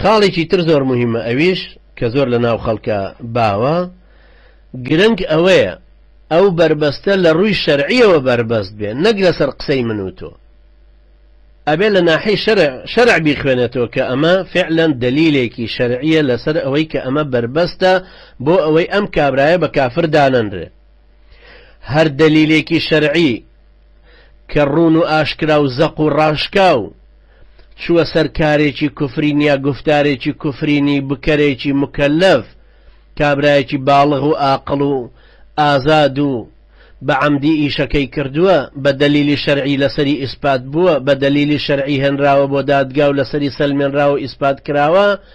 خاڵێکی تر زۆر موهیمە ئەویش کە زۆر لە ناو خەڵکە باوە گرنگ ئەوەیە ئەو بەربەستە لە ڕووی شەرعیەوە بەربەست بێ نەک لەسەر قسەی من و تۆ ئەبێ لە ناحی شەرع شەرع بیخوێنێتەوە کە ئەمە فعلەن دلیلێکی شەرعیە لەسەر ئەوەی کە ئەمە بەربەستە بۆ ئەوەی ئەم کابرایە بە کافر دانەنرێ هەر دەلیلێکی شەرعی کە ڕوون و ئاشکرا و زەق و ڕاشکاو چووە سەر کارێکی کفرین یا گوفتارێکی کفرینی بکەرێکی موکەلەف کابرایەکی باڵغ و ئاقڵ و ئازاد و بە عەمدی ئیشەکەی کردووە بە دەلیلی شەرعی لەسەری ئیسپات بووە بە دەلیلی شەرعی هێنراوە بۆ دادگا و لەسەری سەلمێنراوە و ئیسپات کراوە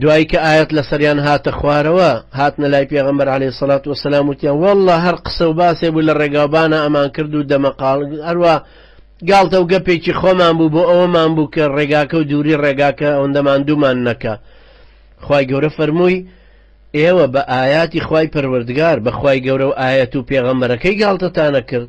دوایی کە ئایەت لەسەریان هاتە خوارەوە هاتنە لای پێغەمبەر عەلەیهی سەڵات وەسەلام وتیان واللە هەر قسە و باسێ بوو لە ڕێگاوبانە ئەمان کرد و دەمەقاڵ هەروە گاڵتە و گەپێکی خۆمان بوو بۆ ئەوەمان بوو کە ڕێگاکە و دووری ڕێگاکە ئەوەندەمان دوومان نەکە خی گەورە فەرمووی ئێوە بە ئاياتی خی پەروەردگار بەخوای گەورە و ئاەت و پێغەمبەرەکەی گاڵتەتانە کرد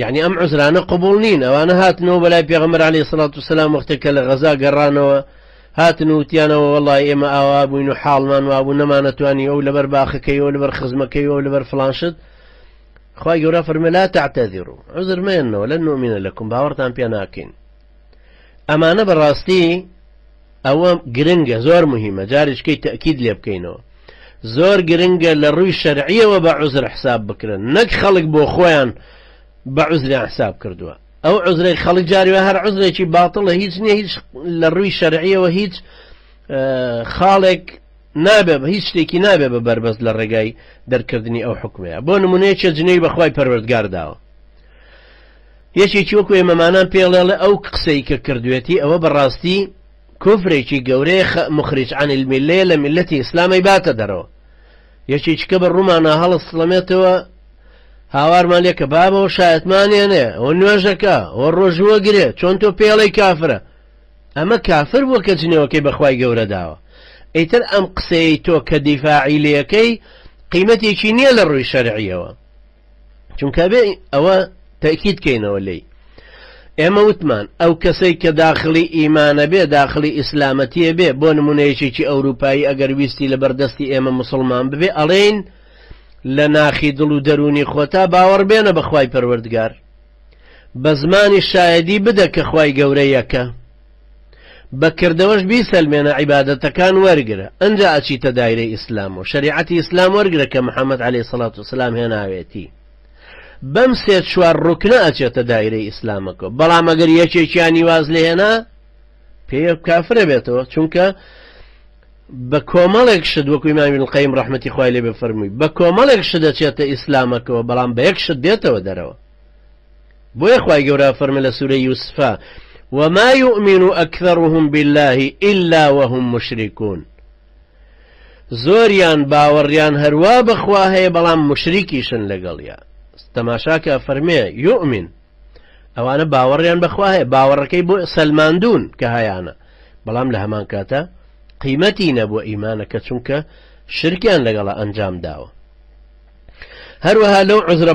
یەعنی ئەم عوزرانە قبوڵ نین ئەوانە هاتنەوە بەلای پێغەمبەر عەلەیهی سڵات و سەلام وەختێک کە لە غەزا گەڕانەوە هاتن وتیانەوە وەڵای ئێمە ئاوا بووین و حاڵمان وابوو نەمانەتوانی ئەو لەبەر باخەکەی ئەو لەبەر خزمەکەی ئەو لەبەر فلانشت خی گەورە فەرمە لا تعتەذر و عزر مێنەوە لە نومینە لەکم باوەڕتان پێ ناکەین ئەمانە بەڕاستی ئەوە گرنگە زۆر مهمە جاریشکەی تەکید لێ بکەینەوە زۆر گرنگە لە ڕووی شەرعیەوە بە عزر حساب بکرن نەک خەڵک بۆ خۆیان بە عزریان حساب کردووە ئەو عزرەی خەڵک جاروە هەر عزرێکی باتڵە هیچ نیە هیچ لە ڕووی شەرعیەوە هیچ خاڵێک نابێ بە هیچ شتێکی نابێ بە بەربەست لە ڕێگای دەرکردنی ئەو حکومەیە بۆ نمونەیە چێ جنەی بەخوای پەروەردگار داوە یەکێکی وەکو ئێمەمانان پێ ڵێڵێ ئەو قسەی کە کردوێتی ئەوە بە ڕاستی کوفرێکی گەورەیە خئ مخرج عن الملەیە لە میلەتی ئیسلام ئەیباتە دەرەوە یەکێکیکە بە ڕوومانا هەڵە سڵەمێتەوە هاوارمان لێ کە بابەوە شایەتمانێنێ ئەوە نوێژەکە ئەوە ڕۆژووە گرێ چۆن تۆ پێڵەی کافرە ئەمە کافر بووە کە جنێوەکەی بەخوای گەورە داوە ئیتر ئەم قسەی تۆ کە دیفاعیلەکەی قیمەتێکی نییە لە ڕووی شەرعیەوە چونکە ئەبێ ئەوە تەئکید کەینەوە لێی ئێمە وتمان ئەو کەسەی کە داخلی ئیمانە بێ داخلی ئیسلامەتیە بێ بۆ نمونەیەکێکی ئەوروپایی ئەگەر ویستی لە بەردەستی ئێمە مسلمان ببێ ئەڵێین لە ناخی دڵ و دەرونی خۆتا باوەڕ بێنە بەخوای پەروەردگار بە زمانی شایدی بدە کە خوای گەورە یەکە بە کردەوەش بیسەلمێنە عیبادەتەکان وەرگرە ئەنجا ئەچیتە دایرەی ئیسلام و شەریعەتی ئیسلام وەرگرە کە محمد علی سەڵات و سلام هێناوێتی بەم سێ چوار ڕوکنە ئەچێتە دایرەی ئیسلامەکە بەڵام ئەگەر یەکێکیانی واز لێهێنا پێ کافرە بێتەوە چونکە بە کۆمەڵێک شت وەکو ئیمامی القیم ڕحمەتی خوای لێ بفەرمووی بە کۆمەڵێک شت دەچێتە ئیسلامەکەەوە بەڵام بە یەک شت دێتەوە دەرەوە بۆیە خوای گەورە فەرمە لە سورەی یوسفا وما یومین اکثرهم باللە الا وهم مشرکون زۆریان باوەڕیان هەروا بەخوا هەیە بەڵام مشریکیشن لەگەڵیا تەماشاکە فەرمێ یومین ئەوانە باوەڕیان بەخوا هەیە باوەڕەکەی بۆ سەلماندون کە هەیانە بەڵام لە هەمان کاتە قیمەتی نەبووە ئیمانەکە چونکە شرکیان لەگەڵە ئەنجام داوە هەروەها لەو عزرە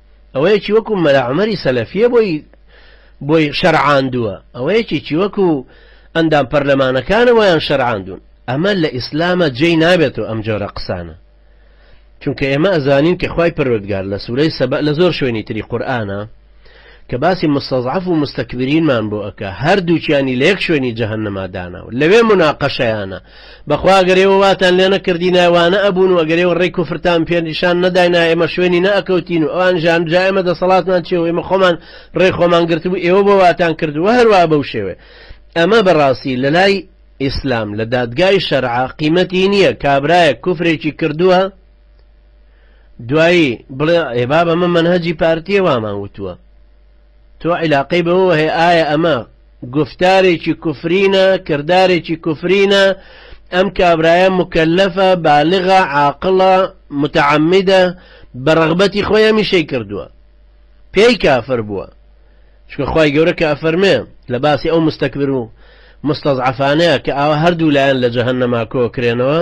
ئەوەیەکی وەکو مەلا عومەری سەلەفیە بۆی بۆی شەرعاندووە ئەوەیەکێکی وەکو ئەندام پەرلەمانەکانە وایان شەرعاندون ئەمە لە ئیسلامە جێی نابێتەوە ئەم جۆرە قسانە چونکە ئێمە ئەزانین کە خی پەروەردگار لە سوورەی سەبە لە زۆر شوێنی تری قورآانە کە باسی مستەزعف و مستەکبرینمان بۆ ئەکە هەردووچیانی لە یەک شوێنی جەهنەمادانەوە لەوێ مناقەشەیانە بەخوا گەر ئێوە واتان لێ نەکردینایە وانە ئەبوون و گەر ئێوە ڕێی کوفرتان پێ نیشان نەداینایە ئێمە شوێنی نە ئەکەوتین و ئەوان ژان جا ئێمە دەسەڵاتمان چیە و ئێمە خۆمان ڕێی خۆمان گرتبوو ئێوە بۆ واتان کرد و هەروا بەو شێوێ ئەمە بەڕاستی لەلای ئیسلام لە دادگای شەرعە قیمەتی نییە کابرایەک کوفرێکی کردووە دوایی بڵێ ئێبا بەمە منهجی پارتیە وامان وتووە تۆ عیلاقەی بەوەوە هەیە ئایا ئەمە گوفتارێکی کوفرینە کردارێکی کوفرینە ئەم کابرایە موکەلەفە بالغە عاقڵە متعمدە بە ڕغبەتی خۆی هەمیشەی کردووە پێی کافر بووە چکە خی گەورە کە ئەفەرمێ لە باسی ئەو مستەکبر و مستەزعفانەیە کە ئاوا هەردوو لایەن لە جەهنەما کۆکرێنەوە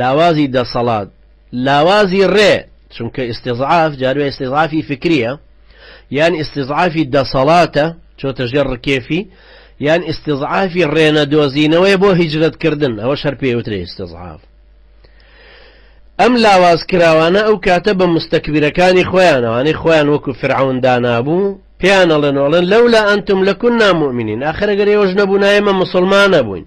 لاوازی دەسەڵات، لاوازی ڕێ، چونکە ئیستیزعاف جاروێ ئیستیزعافی فکرییە، یان ئیستیزعافی دەسەڵاتە چۆتە ژێر ڕکێفی، یان ئیستیزعافی ڕێ نەدۆزینەوەیە بۆ هیجرەت کردن، ئەوەش هەر پێی ئەوترێ ئیستیزعاف. ئەم لاواز کراوانە ئەو کاتە بە موستەکبیرەکانی خۆیان، ئەوانەی خۆیان وەکو فیرعەون دانابوو، پێیان ئەڵێن و ئەڵێن، لولا انتم لکنا مؤمنین، ئاخر ئەگەر ئێوەش نەبوونایە ئێمە موسڵمان ئەبووین.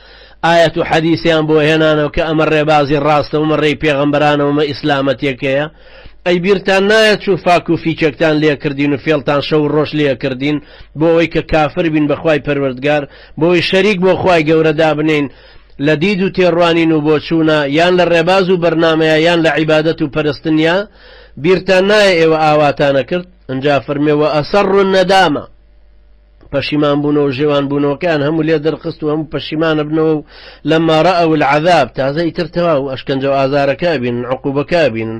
ئایەت و حەدیسیان بۆ هێنانەوە کە ئەمە ڕێبازی ڕاستە ومە ڕێی پێغەمبەرانە ومە ئیسلامەتێکەیە ئەی بیرتان نایەت چو فاک و فیچەکتان لێکردین و فێڵتان شەو و ڕۆژ لێکردین بۆ ئەوەی کە کافر بین بەخوای پەروەردگار بۆی شەریک بۆ خوای گەورە دابنێین لە دید و تێڕوانین و بۆچوونە یان لە ڕێباز و بەرنامەیە یان لە عیبادەت و پەرستنیا بیرتان نایە ئێوە ئاواتانە کرد ئەنجا فەرمێ وە ئەسەڕ الندامە پەشیمان بوونەوە و ژێوان بوونەوەکەیان هەموو لێ دەرخست و هەموو پەشیمانە بنەوە و لەما رأوا العذاب تازە ئیتر تەواو و ئەشکەنجە و ئازارەکە ئەبینن عقوبەکە ئەبینن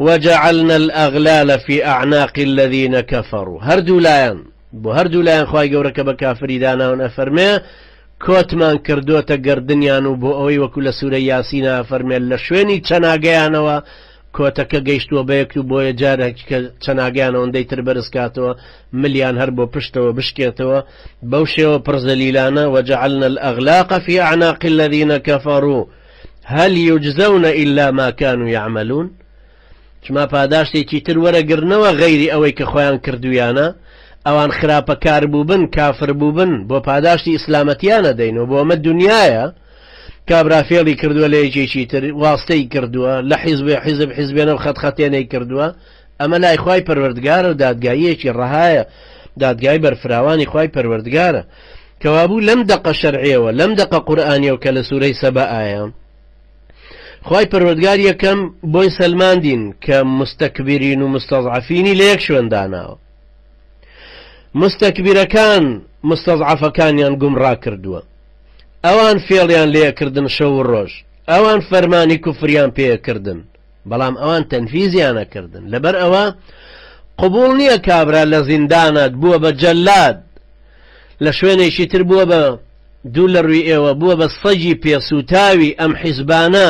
وجعلنا الاغلال فی اعناق الذین کفروا هەردوو لایان بۆ هەردوو لایان خوای گەورە کە بە کافری داناون ئەفەرمێ کۆتمان کردۆتە گەردنیان و بۆ ئەوەی وەکو لە سورە یاسینە ئەفەرمێ لە شوێنی چەناگەیانەوە کۆتەکە گەیشتووە بەیەک و بۆیە جارێکی کە چەناگەیان ئەوەندەی تر بەرز کاتەوە ملیان هەر بۆ پشتەوە بشکێتەوە بەو شێوە پڕ زەلیلانە وجعلنا الاغلاق فی اعناق الذین کفروا هل یجزون الا ما کانوا یعملون چما پاداشتێکی تر وەرەگرنەوە غەیری ئەوەی کە خۆیان کردویانە ئەوان خراپە کار بووبن کافر بووبن بۆ پاداشتی ئیسلامەتیانە دەین و بۆمە دنیاە کابرا فێڵی کردوە لە یەکێکی تر واستەی کردوە لە حیزبێ حیزب حیزبێنەو خەت خەتێنەی کردوە ئەمە لای خوای پەروەردگارەو دادگاییەکی ڕەهایە دادگای بەرفراوانی خوای پەروەردگارە کەوابوو لەم دەقە شەرعەوە لەم دەقە قورآانیەوە کە لە سوورەی سەبە ئایا خی پەروەردگار یەکەم بۆی سەلماندین کە مستەکبیرین و مستەزعفینی لە یەک شوێنداناوە مستەکبیرەکان مستەزعفەکانیان گومڕا کردووە ئەوان فێڵیان لێ ئەکردن شەو و ڕۆژ، ئەوان فەرمانی کوفریان پێ ئەکردن، بەڵام ئەوان تەنفیزیان ئەکردن، لەبەر ئەوە قبوڵ نییە کابرا لە زیندانات بووە بە جەلاد، لە شوێنێکی تر بووە بە دوو لە ڕووی ئێوە بووە بە سەگی پێ سووتاوی ئەم حیزبانە،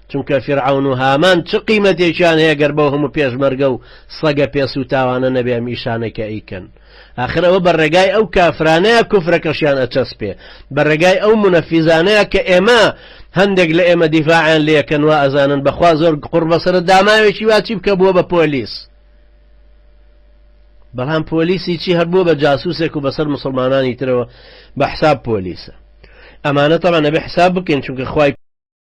چونکە فیرعەون و هامان چ قیمەتێکیان هەیە گەر بەو هەموو پێشمەرگە و سەگە پێ سووتاوانە نەبێ ئەم ئیشانەی کە ئەیکەن ئاخر ئەوە بە ڕێگای ئەو کافرانەیە کوفرەکەشیان ئەچەسپێ بە ڕێگای ئەو منەفیزانەیە کە ئێمە هەندێک لە ئێمە دیفاعیان لەکەن و ئەزانن بەخوا زۆر قڕ بەسرە داماوێکی واچی بکە بووە بە پۆلیس بەڵام پۆلیسی چی هەبووە بە جاسوسێک و بەسەر مسلمانانی ترەوە بە حساب پۆلیسە ئەمانە تەڵە نەبێ حساب بکەین چونکە خی